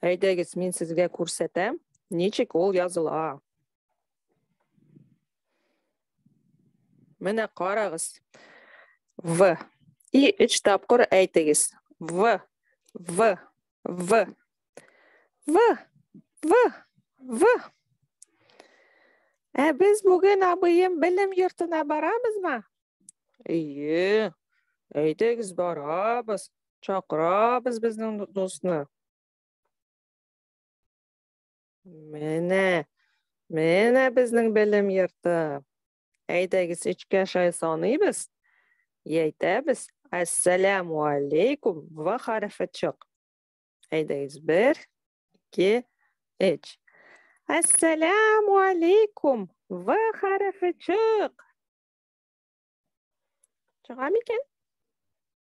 Әйдәгез, мин сезгә күрсәтәм, ничек ул языла. Менә карагыз. В. И өч тапкыр әйтегез. В. В. В. В. В. В. Ә без бүген абыем белем йортына барабызмы? Әйе. Әйдәгез барабыз. Чакырабыз безнең дусны. Менә, менә безнең белем йорты. Әйдәгез, өчкә шай саныйбыз. Әйтәбез, әссәләму алейкум ва хәрефе чык. Әйдәгез, бер, ике, үч. Әссәләму алейкум ва хәрефе чык. Чыга микән?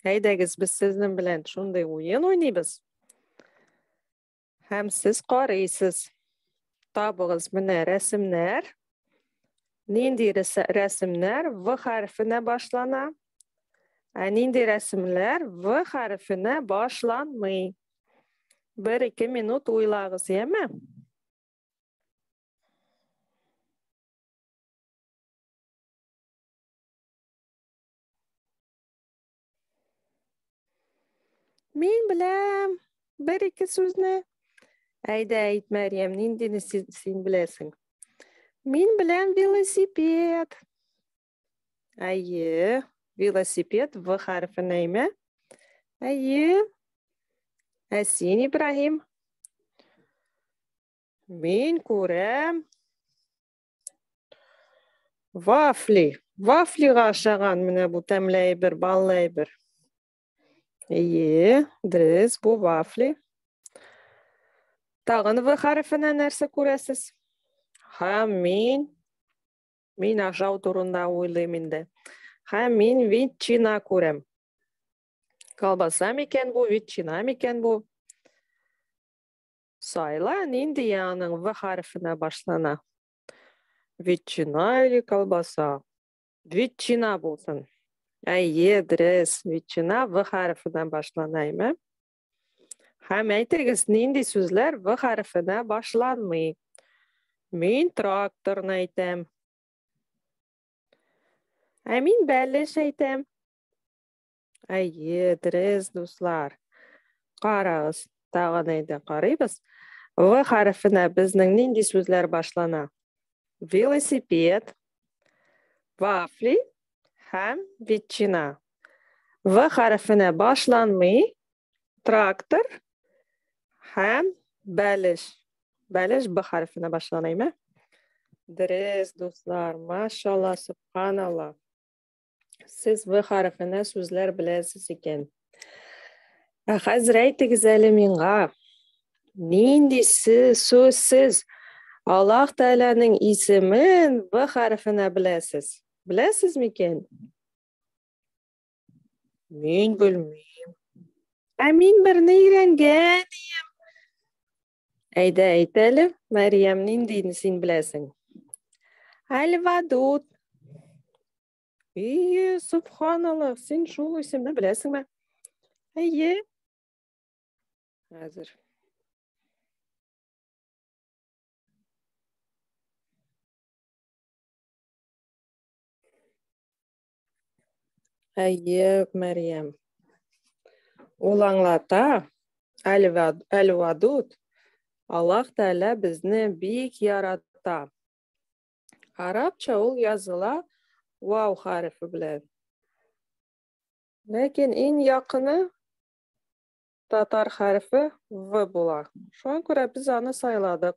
Әйдәгез, без сезнең белән шундый уен уйныйбыз. Һәм сез карыйсыз. Табыгыз менә рәсемнәр. Нинди рәсемнәр В хәрефенә башлана? Ә нинди рәсемнәр В хәрефенә башланмый? Бер ике минут уйлагыз, яме? Мин беләм бер ике сүзне. Әйдә әйт, Мәриям, ниндине син беләсең? Мин беләм велосипед. Әйе, велосипед в хәрефе нәйме? Әйе. Ә син, Ибраһим? Мин күрәм Вафли. Вафлига ашаган менә бу тәмле әйбер, баллы әйбер. Ие, дөрес, бу вафли. Тагын В хәрефенә нәрсә күрәсез? Һәм мин мин ашау турында уйлыйм инде. Һәм мин ветчина күрәм. Колбаса микән бу, ветчина микән бу? Сайла, нинди яның В хәрефенә башлана? Ветчина или колбаса? Ветчина булсын. Әйе, дөрес. Ветчина В хәрефенә башлана, әйме? Һәм әйтегез, нинди сүзләр В хәрефенә башланмый? Мин тракторны әйтәм. Ә мин бәлеш әйтәм. Әйе, дөрес, дуслар. Карагыз, тагын әйдә карыйбыз. В хәрефенә безнең нинди сүзләр башлана? Велосипед, вафли һәм ветчина. В хәрефенә башланмый трактор һәм бәлеш. Бәлеш Б хәрефенә башланаймы? Дөрес, дуслар. Машалла, субханалла. Сез В хәрефенә сүзләр беләсез икән. Ә хәзер әйтегез әле миңа, нинди сүз сез Аллаһ Тәгаләнең исемен В хәрефенә беләсез? Беләсез микән? Мин белмим. Ә мин берне өйрәнгән идем. Әйдә, әйт әле, Мәриям, ниндиен син беләсең? Альвадут. Ие, субханаллах, син шул исемне беләсеңме? Әйе. Хәзер. Әйе, Мәриям. Ул аңлата, Әл-Вадуд, Аллах Тәлә безне бик ярата. Арабча ул языла вау хәрефе белән. Ләкин иң якыны татар хәрефе В була. Шуңа күрә без аны сайладык.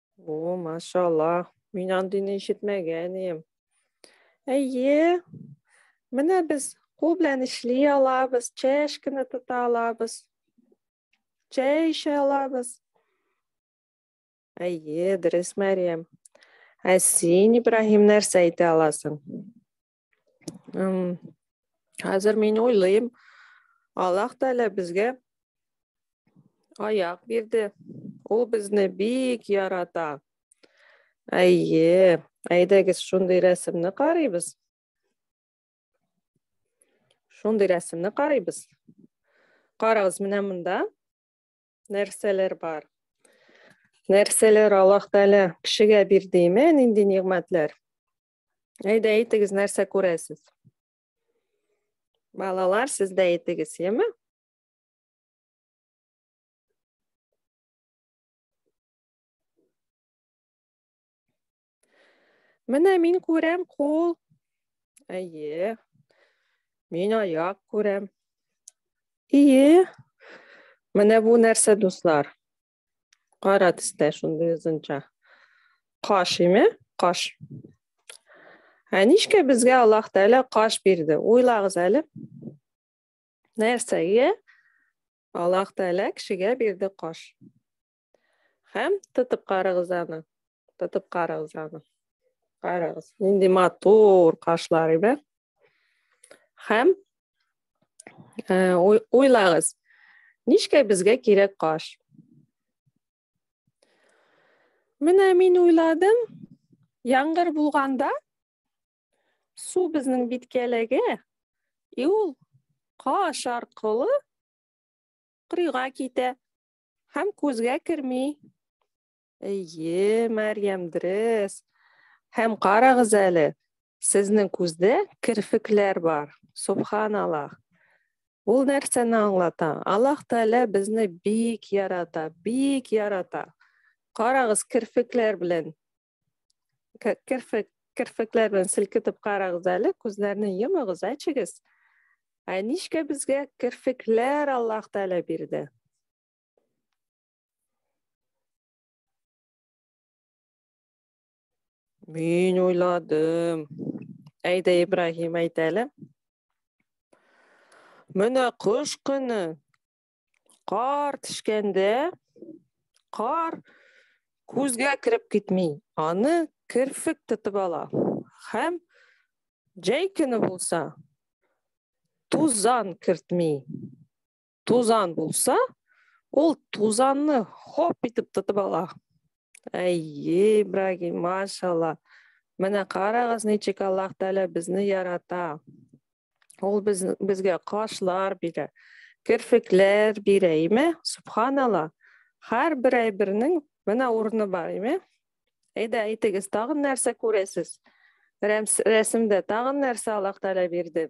О, машалла. Мин андыйны ишетмәгән идем. Әйе. Менә без кул белән эшли алабыз, чәшкәне тота алабыз. Чәй эчә алабыз. Әйе, дөрес, Мәриям. Ә син, Ибраһим, нәрсә әйтә аласың? Хәзер мин уйлыйм, Аллах Тәгалә безгә аяк бирде. Ул безне бик ярата. Әйе, әйдәгез шундый рәсемне карыйбыз. Шундый рәсемне карыйбыз. Карагыз, менә монда нәрсәләр бар? Нәрсәләр Аллах Тәгалә кешегә бирдеме? Нинди нигъмәтләр? Әйдә әйтегез, нәрсә күрәсез? Балалар, сез дә әйтегез, яме? Менә мин күрәм кул. Әйе. Мин аяк күрәм. Әйе. Менә бу нәрсә, дуслар? Кара төстә шундый озынча. Каш име? Каш. Ә нишкә безгә Аллаһ Тәгалә каш бирде? Уйлагыз әле. Нәрсәгә Аллаһ Тәгалә кешегә бирде каш? Һәм тотып карагыз аны. тотып карагыз аны карагыз нинди матур кашлар иде һәм уйлагыз ничкә безгә кирәк каш менә мин уйладым яңгыр булганда су безнең биткәләгә и ул каш аркылы кырыйга китә һәм күзгә керми Әйе, Мәрьям, дөрес. Һәм карагыз әле, сезнең күздә керфекләр бар. Субханаллах. Ул нәрсәне аңлата? Аллаһ Тәгалә безне бик ярата, бик ярата. Карагыз керфекләр белән. Керфек керфекләр белән селкетеп карагыз әле, күзләрне йомыгыз, әчегез. Ә нишкә безгә керфекләр Аллаһ Тәгалә бирде? Мин уйладым. Әйдә, Ибраһим, әйт әле. Менә кыш көне кар төшкәндә кар күзгә кереп китми. Аны керфек тотып ала. Һәм җәй көне булса тузан кертми. тузан булса, ул тузанны хоп итеп тотып ала. Әй, Ибрагим, машалла. Менә карагыз, ничек Аллаһ Тәгалә безне ярата. Ул без, безгә кашлар бирә, керфекләр бирә, име? Субханалла. Һәр бер әйбернең менә урыны бар, име? Әйдә, әйтегез, тагын нәрсә күрәсез? Рәсемдә тагын нәрсә Аллаһ Тәгалә бирде?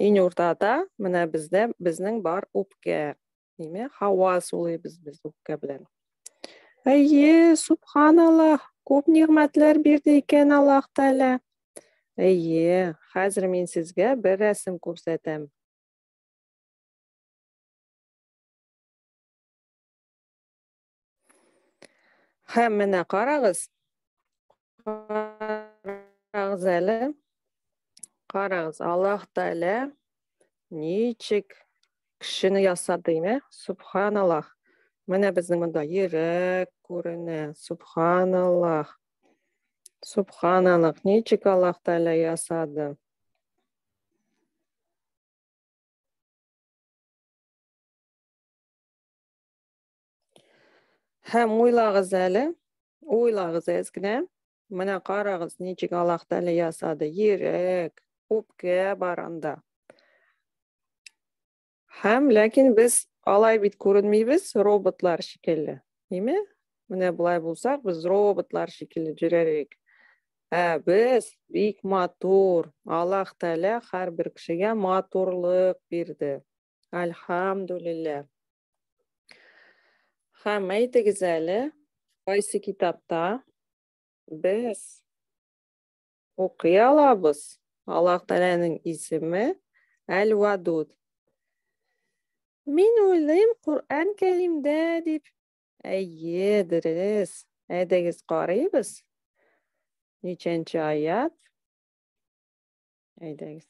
Иң уртада менә бездә безнең бар үпкә. Димәк, һава сулыйбыз без үпкә белән. Әйе, субханаллах, күп нигъмәтләр бирде икән Аллаһ Тәгалә. Әйе, хәзер мин сезгә бер рәсем күрсәтәм. Һәм менә карагыз. Карагыз әле. Карагыз, Аллаһ Тәгалә ничек кешене ясады, ме? Субханаллах. Менә безнең монда йөрәк күренә. Субханаллах. Субханаллах. Ничек Аллаһ Тәгалә ясады? Һәм уйлагыз әле, уйлагыз әз генә. Менә карагыз, ничек Аллаһ Тәгалә ясады. Йөрәк, үпкә бар анда. Һәм ләкин без алай бит күренмибез, роботлар шикелле. Әйме? Менә болай булсак, без роботлар шикелле йөрәрлек. Ә без бик матур. Аллаһ Тәгалә һәрбер кешегә матурлык бирде. Альхамдулиллаһ. Хәм, әйтегез әле, кайсы китапта без укый алабыз Аллаһ Тәгаләнең исеме Әл-Вадуд. Мин уйлыйм, Коръән Кәримдә дип. Әйе, дөрес. Әйдәгез карыйбыз. Ничәнче аят? Әйдәгез.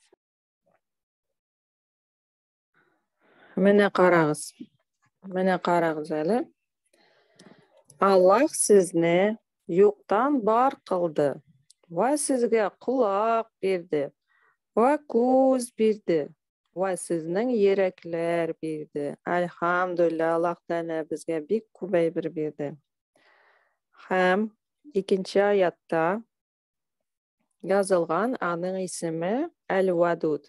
Менә карагыз. Менә карагыз әле. Аллах сезне юктан бар кылды. Ва сезгә кулак бирде. Ва күз бирде. Ва сезнең йөрәкләр бирде. Альхамдулилла, Аллах Тәгалә безгә бик күп әйбер бирде. Һәм икенче аятта язылган аның исеме Әл-Вадуд.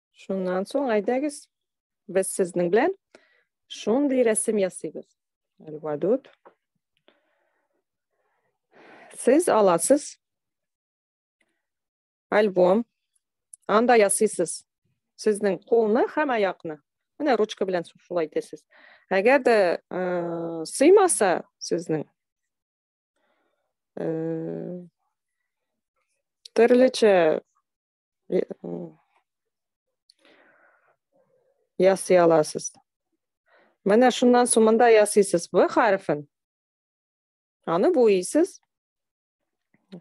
Шуннан соң әйдәгез, без сезнең белән шундый рәсем ясыйбыз. Әлвадут. Сез аласыз альбом. Анда ясыйсыз сезнең кулны һәм аякны. Менә ручка белән шулай итәсез. Әгәр дә э, сыймаса сезнең э, төрлечә ясый аласыз менә шуннан соң монда ясыйсыз в хәрефен аны буйсыз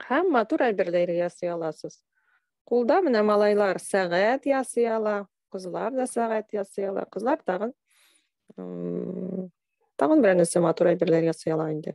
һәм матур әйберләр ясый аласыз кулда менә малайлар сәгать ясый ала кызлар да сәгать ясый ала кызлар тагын тагын берәр нәрсә матур әйберләр ясый ала инде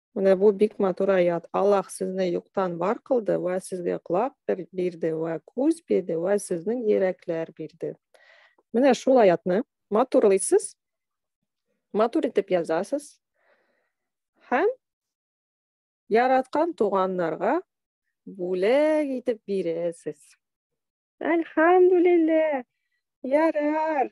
Менә бу бик матур аят. Аллаһ сезне юктан бар кылды вә сезгә коляк бирде вә күз бирде вә сезнең йөрәкләр бирде. Менә шул аятны матурлыйсыз, матур итеп язасыз һәм яраткан туганнарга бүләк итеп бирәсез. Әлхәмдүлилләһ. Ярар.